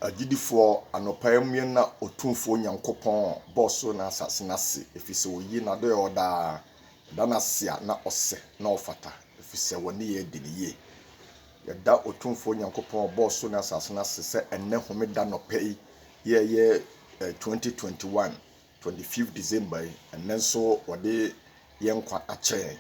Agyidifoɔ, anɔpa yi mmue nna Otumfoɔ Nyankopɔn a ɔbɔɔ ɔsoro ne asase no ase, ɛfiri sɛ ɔyi n'adɔeɛ hɔ daa, yɛda no ase a na ɔsɛ na ɔfata, ɛfiri sɛ wɔn nneyɛɛ di no yie. Yɛda Otumfoɔ Nyankopɔn a ɔbɔɔ ɔsoro ne asase no ase sɛ ɛnnɛ Homeda nɔpa yi yɛɛyɛ 2021 Twenty fifth December yi, ɛnnɛ nso wɔde yɛn nkwa akyɛ yɛn.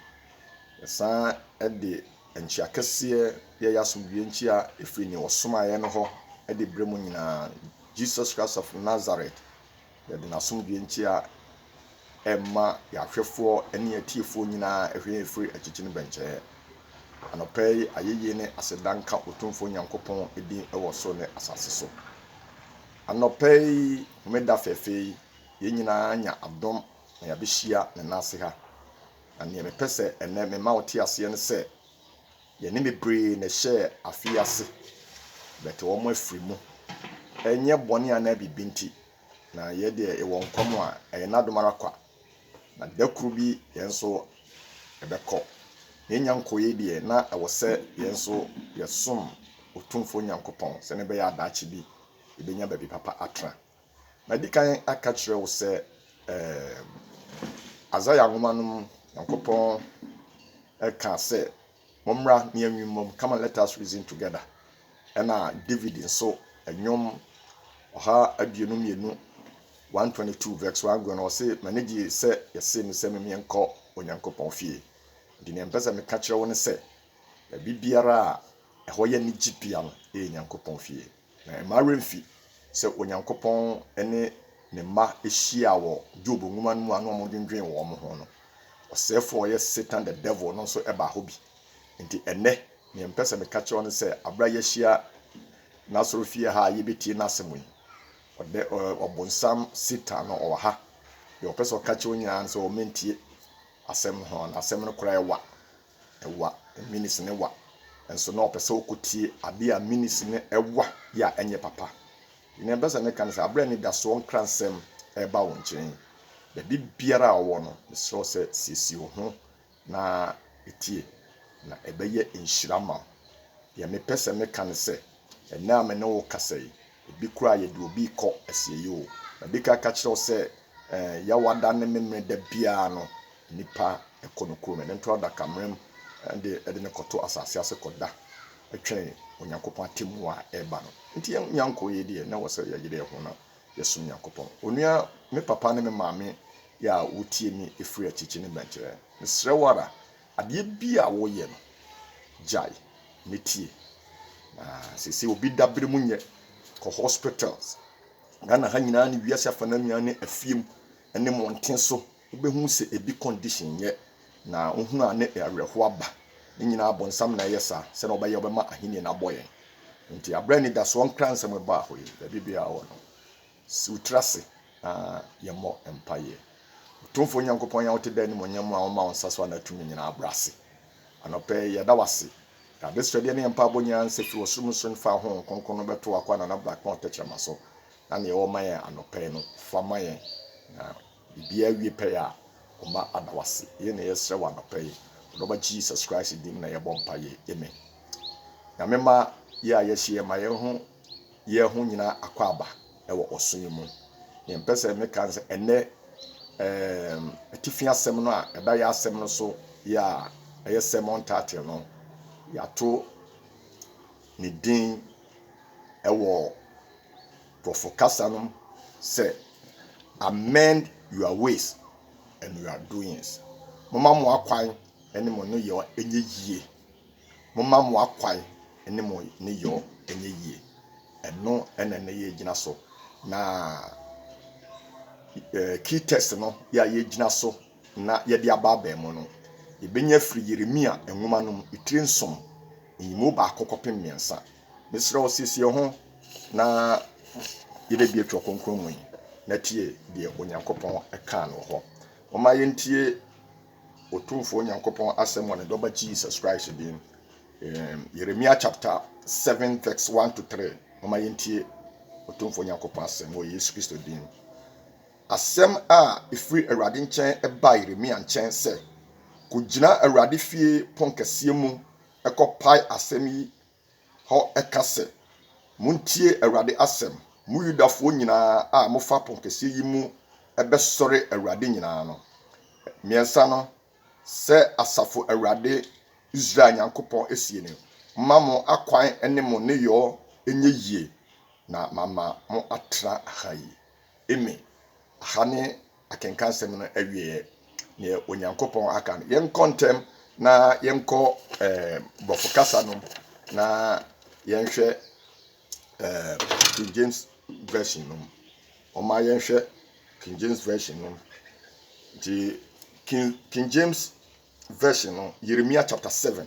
Yɛsan de nkyia kɛseɛ yɛ yɛn asomdwoeɛ nkyia firi nea ɔsomaa yɛn no hɔ de brɛ mo nyinaa. Jesus Christ of Nazareth, yɛde n'asomdwoeɛ nkyia ɛrema yɛn ahwɛfoɔ ne yɛn atiefoɔ nyinaa ɛhwɛ yɛn firi akyikyi ne bɛnkyɛɛ. Anɔpa yi, ayɛyie ne aseda nka Otumfoɔ Nyankopɔn din wɔ soro ne asase so. Anɔpa yi, Homeda fɛɛfɛ yi, yɛn nyinaa anya adom na yɛabehyia Ne nan ase ha. Na nea mepɛ sɛ ɛnnɛ mema wo te aseɛ ne sɛ, yɛne bebree na ɛhyɛɛ afe yi ase, but wɔn afiri mu. Ɛnyɛ bɔne anaa biribi nti, na yɛn deɛ yɛwɔ nkwa mu a, ɛyɛ N'adom ara kwa. Na da koro bi yɛn nso yɛbɛkɔ. Yɛannya nkɔeɛ deɛ, na ɛwɔ sɛ yɛn nso yɛsom Otumfoɔ Nyankopɔn sɛdeɛ ɛbɛyɛ a daakye bi yɛbɛnya baabi papa atena. Madi kan aka kyerɛ wo sɛ, ɛɛm, Isaiah nwoma no mu Nyankopɔn ka sɛ, Mommra na yɛnwe mmom, come and let us reason together. Ɛna David nso, Nnwom ɔha aduonu mmienu, 122 verse 1 go no, ɔse, M'ani gye sɛ yɛse me sɛ memmeɛ nkɔ Onyankopɔn fie. Nti nea mpɛ sɛ meka kyerɛ wo ne sɛ, baabi biara a ɛhɔ yɛ anigye pii a no, ɛyɛ Nyankopɔn fie. Na mma wo werɛ mmfi sɛ Onyankopɔn ne ne mma hyiaa wɔ Job nwoma no mu a na wɔdwendwen wɔn ho no. Ɔsɛefo a ɔyɛ Satan the Devil no nso baa hɔ bi. Enti ɛnnɛ, nea mepɛ sɛ meka kyerɛ wo ne sɛ, bere a yɛahyia n'asɔrefie ha a yebetie n'asɛm yi, ɔdɛ, ɔ, Ɔbonsam Satan no, ɔwɔ ha. Nea ɔpɛ sɛ ɔka kyerɛ wo nyinaa ne sɛ ɔmmentie asɛm no, na asɛm no koraa yɛ wa. Wa, Minis ne Wa. Nso na ɔpɛ sɛ ɔkɔtie adeɛ a Minis ne Wa yɛ a ɛnyɛ papa. Deɛ ɛbɛ sɛ meka ne sɛ, aberɛ a anidasoɔ nkransɛm reba wo nkyɛn, baabi biara a ɔwɔ no, mesrɛ wo sɛ siesie wo ho na tie, na ɛbɛyɛ nhyira ama wo. Deɛ mepɛ sɛ meka ne sɛ, Ɛnnɛ a me ne wo rekasa yi, ebi koraa yɛde obi rekɔ asieyi o. Madi kan aka akyerɛ wo sɛ, eh, Yawada ne Memenɛ da biara no, nnipa kɔ no kurom, ɛno nto adakammerɛm de de no kɔto asase ase kɔda twɛn Onyankopɔn atemmu a ɛreba no. Enti yɛn nyɛnko yi deɛ, na ɛwɔ sɛ yɛyere yɛn ho na yɛsom Nyankopɔn. Onua, me papa ne me maame a wotie me firi akyirikyiri no bɛnkyerɛ. Mesrɛ wo ara, Adeɛ bi a woreyɛ no, gyae na tie. Na seesei obi dabere mu nyɛ. Kɔ hospitals, Ghana ha nyinaa ne wiase afa no nyinaa ne afie mu ne mmɔnten so, wobɛhu sɛ ebi condition nyɛ. Na wohunu a ne awerɛhoɔ aba. Ne nyinaa bonsam na ɛyɛ saa, sɛdeɛ ɔbɛyɛ ɔbɛma ahennie no abɔ yɛn. Nti aberɛ anidasoɔ Nkransɛm baa hɔ yi, baabi biara wɔ no, Sɛ wo tiri ase na yɛmmɔ mpaeɛ. Otumfoɔ Nyankopɔn yi a wote daa animuonyam mu a woma wo nsa so a na tumi nyinaa abrɛ ase. Anɔpa yi, yɛda wo ase. Yɛn adesrɛdeɛ ne yɛn mpaebɔ nyinaa ne sɛ firi w'ɔsoro mu sene fa Honhom Kronkron no bɛto w'akwanna no abira kpɔn tɛkyerɛma so, na nea ɛwɔ ma yɛn anɔpa yi no, fa ma yɛn, na. Bia wie pɛ a ɔma ada wase. Yei na yɛsrɛ wɔ anɔpa yi wɔ dɔba Jesus Christ din mu na yɛbɔ mpaeɛ amen. Nyame ma yɛ a yɛhyeɛ ma yɛho yɛ ho nyina akwaaba wɔ ɔso yi mu. Neɛ mpɛ sɛ meka ne sɛ ɛnɛ ɛɛm atifi asɛm no a ɛda yɛ asɛm no so yɛ a ɛyɛ sermon title no yɛato ne din ɛwɔ Nkurɔfo kasa no sɛ, Amend your ways and your doings, Momma mo akwan ne mo nneyɛe nyɛ yiye. Momma mo akwan ne mo nneyɛe nyɛ yiye. Ɛno na ɛnnɛ yɛregyina so, na key text no yɛ a yɛregyina so na yɛde aba abɛn mu no, yebenya afiri Yeremia nwoma no mu tire nson, nyimu baako kɔpem mmiɛnsa. Mesrɛ wo, siesie wo ho na yɛbɛbue Twerɛ Kronkron mu yi na tie deɛ Onyankopɔn kaa no wɔ hɔ. Momma yɛntie Otumfoɔ Onyankopɔn asɛm wɔ ne Dɔba Jesus Christ din. Um, Yeremia chapter 7 verse 1 to 3. Momma yɛntie Otumfoɔ Onyankopɔn asɛm wɔ Yesu Kristo din. Asɛm a ɛfiri Awurade nkyɛn baa Yeremia nkyɛn sɛ, Kɔgyina Awurade fie ponkɛseɛ mu kɔpae asɛm yi hɔ ka sɛ, 'Montie Awurade asɛm, mo Yudafoɔ nyinaa a mofa ponkɛseɛ yi mu bɛsɔre Awurade nyinaa no. Mmiɛnsa no, sɛ asafo Awurade, Israel Nyankopɔn seɛ nie, Momma mo akwan ne mo nneyɔɔ nyɛ yie, na mama mo atena ha yi. Amy, Aha ne akenkansɛm no awieeɛ. Deɛ Onyankopɔn aka no, yɛnkɔ ntɛm na yɛnkɔ um, Bɔfo kasa no na yɛnhwɛ um, King James Version no. Wɔma yɛnhwɛ King James Version no. Nti, King, King James Version no, Yeremia chapter 7,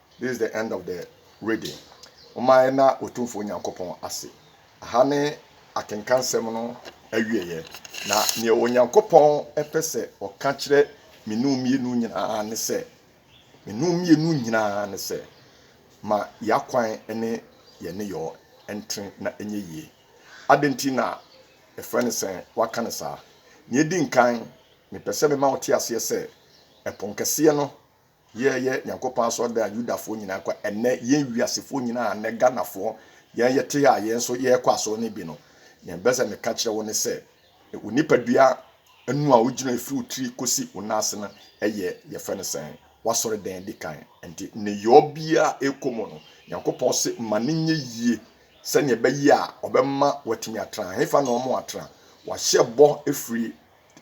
This is the end of the reading. Momma yɛnna Otumfoɔ Nyankopɔn ase. Aha ne akenkansɛm no awieɛ. Na nea Onyankopɔn pɛ sɛ ɔka kyerɛ me nu mmienu nyinaa ne sɛ, me nu mmienu nyinaa ne sɛ, ma y'akwan ne yɛn nneyɔɔ ntene na ɛnyɛ yie. Adɛn nti na yɛfrɛ no sɛ waka no saa? Nea ɛdi nkan, mepɛ sɛ mema wo te aseɛ sɛ, ɛpono kɛseɛ no Yɛ yɛ nyankopɔn asɔrdan a yudafoɔ nyinaa kɔ ɛnɛ yɛn wiasefoɔ nyinaa ɛnɛ ganafoɔ yɛn yɛ te a yɛn nso yɛkɔ asɔre no bi no nea bɛ sɛ meka kyerɛ wo ne sɛ wo nipa dua ɛnu a wogyina ɛfiri wo tiri kɔsi wo nan ase no ɛyɛ yɛfɛ no sɛn wasɔre dan di kan nti ne yɔ bia ɛkɔ mu no nyankopɔn se ma ne nyɛ yie sɛnea ɛbɛyɛ a ɔbɛma watumi atra hefa na ɔmo atra wahyɛ bɔ ɛfiri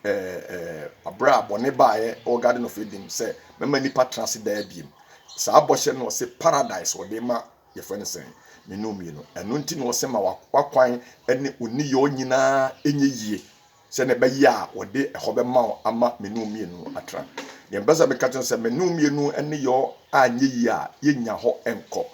ɛɛ bere a bɔne baeɛ wɔ garden of eden sɛ mɛma nipa tena ase daa biem saa bɔhyɛ no ɔse paradise ɔde ma yɛfrɛ no sɛn mmienu mmienu ɛno nti na ɔse ma wakwan ne oniyɔ nyinaa ɛnyɛ yie sɛ na ɛbɛyɛ a wɔde ɛhɔ bɛma wo ama mmienu mmienu atena deɛ mpɛ sɛ meka kyerɛ sɛ mmienu mmienu ne yɔ a nyɛ yie a yɛnya hɔ nkɔ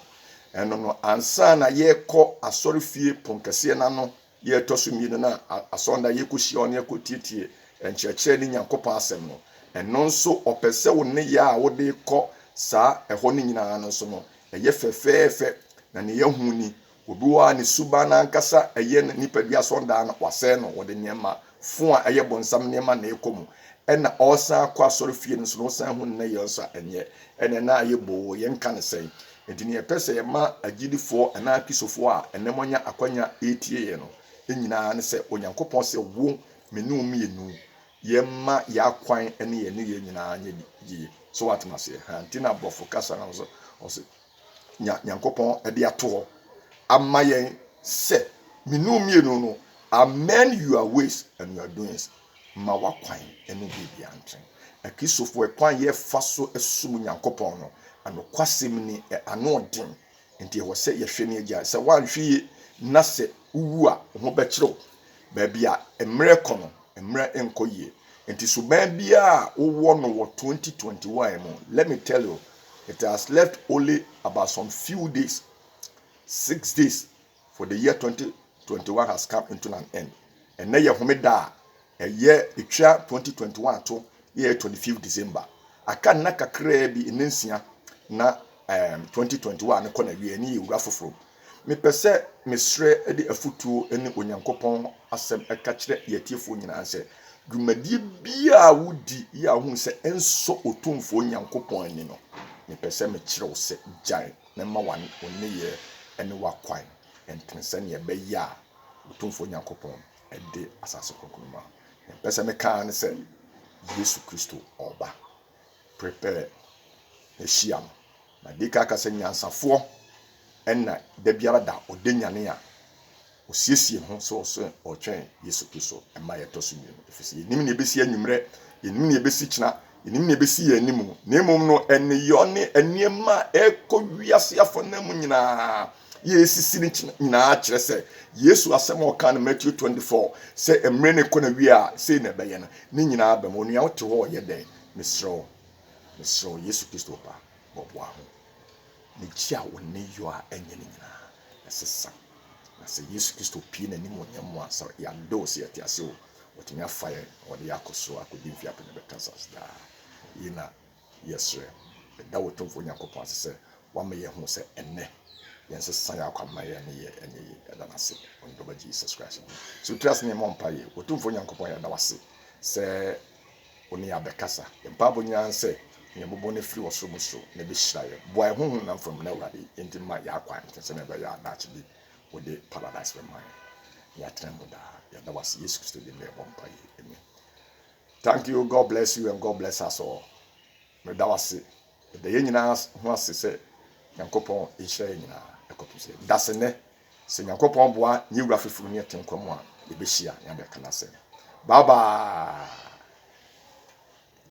ɛno no ansa na yɛkɔ asɔre fie ponkɛseɛ no ano Deɛ ɛtɔ so mmienu no a asɔre no a yɛkɔhyia wo ne yɛkɔtietie nkyerɛkyerɛ ne Nyankopɔn asɛm no, ɛno nso ɔpɛ sɛ wo nneyɛɛ a wode rekɔ saa ɛhɔ no nyinaa no nso no ɛyɛ fɛfɛɛfɛ. Na deɛ yɛahu ni, obi wɔ hɔ a ne suban no ankasa ɛyɛ ne nipadua asɔndaa no wasɛe no, wɔde nneɛma fon a ɛyɛ bonsam nneɛma na ɛkɔ mu ɛna ɔresan akɔ asɔre fie no nso no wosan hu no na yɛn nso a ɛnyɛ ɛnɛ na ayɛ boo yɛn ka no sɛn nti ne yɛpɛ sɛ yɛma agyidifoɔ anaa kristofoɔ a ɛnɛ moanya akwanya ɛretie yɛn no nyinaa ne sɛ Onyankopɔn sɛ wo me ne wo mmienu yɛmma yɛ akwan ne yɛn ne yɛn nyinaa nyɛ yie so watem aseɛ ha nti na aborɔfo kasa no nso ɔse nya Nyankopɔn de ato hɔ ama yɛn sɛ menu mmienu no amend your ways and your doings ma wakwan ne biribia ntwɛn. Akristofo ɛkwan yɛfa so som Nyankopɔn no anokwasɛm ni ano den nti ɛwɔ sɛ yɛhwɛ ne agyae. Sɛ woanhwɛ yie na sɛ wowu a wo ho bɛkyere wo. Baabi a mmerɛ kɔ no mmerɛ nkɔ yie nti suban biara a wowɔ no wɔ 2021 mu let me tell you it has left only about some few days, six days for the year 2021 has come into an end. And now Homeda, a year, it 2021 to year 25th December. I can na kakra bi nensia na um, 2021 no kɔ na wie ne yɛ wura foforɔ Mepɛ sɛ mesrɛ de afotuo ne Onyankopɔn asɛm ka kyerɛ yɛn atiefoɔ nyinaa sɛ, dwumadie biara a wodi yɛ a wohu sɛ ɛnsɔ Otumfoɔ Nyankopɔn ani no, mepɛ sɛ mekyerɛ wo sɛ gyae na mma wo nneyɛɛ ne w'akwan ntene sɛdeɛ ɛbɛyɛ a Otumfoɔ Nyankopɔn de asase kronkron no bɛma wo. Deɛ mepɛ sɛ meka ara ne sɛ, Yesu Kristo ɔreba. Prepare na hyia no. Na dee kaa kasɛ nyansafoɔ na da biara da ɔda nyane a ɔsiesie ho sɛ ɔsɛ ɔretwɛn Yesu Kristo mma yɛ ɛtɔ so mmienu ɛfiri sɛ yɛnnim nea ɛbɛsi anwummerɛ, yɛnnim nea ɛbɛsi kyena, yɛnnim nea ɛbɛsi yɛn anim na mmom no ɛneyɔ ne nneɛma a ɛrekɔ wiase afanan mu nyinaa yɛresisi no nyinaa kyerɛ sɛ Yesu asɛm a ɔkaa no Matthew 24 sɛ mmerɛ no rekɔ na wie a sei na ɛbɛyɛ no ne nyinaa bɛma onua wote hɔ yɛ dɛn mesrɛ wo Mesrɛ wo, Yesu Kristo Ba, bɔboa ho. Megye a wo nne yɔ a ɛnyɛ no nyinaa, ɛsesa. Na sɛ Yesu Kristo pue n'animuonyam mu a, sɛ yɛadɔ o, sɛ yɛte ase o, Ɔtumi afa yɛn na ɔde yɛn akɔ soro akɔdi mfe apem na ɛbɛtra asase daa. Yei na yɛsrɛ. Meda wo Tumfoɔ Nyankopɔn ase sɛ woama yɛahu sɛ ɛnnɛ yɛnsesa yɛn akwamma, yɛn nneyɛɛ nyɛ yie. Yɛda no ase wɔ ne Dɔba Jesus Christ din mu. Sɛ wotiri ase na yɛmmɔ mpaeɛ. Otumfoɔ Nyankopɔn, yɛda wo ase sɛ. Wo ne yɛn abɛkasa. Yɛn mpaebɔ nyinaa ne sɛ, Nea ɛbɛbɔ no afiri ɔsoro mu so na ɛbɛhyira yɛn. Boa yɛn honhom nam fam na Awurade enti mma yɛn akwan ntene sɛnea ɛbɛyɛ a daakye bi Wode Paradise bɛma yɛn na yɛatena mu daa. Yɛda Wo ase Yesu Kristo din mu na yɛbɔ mpaeɛ. Amen. Thank you. God bless you and God bless us all. Meda wo ase. Meda yɛn nyinaa ho ase sɛ Nyankopɔn nhyira yɛn nyinaa ɛkɔpem sɛ da sɛ nnɛ. Sɛ Nyankopɔn boa nye wura foforo ne ɛte nkɔmmɔ a, yɛbɛhyia ne abɛka n'asɛm. Bye bye!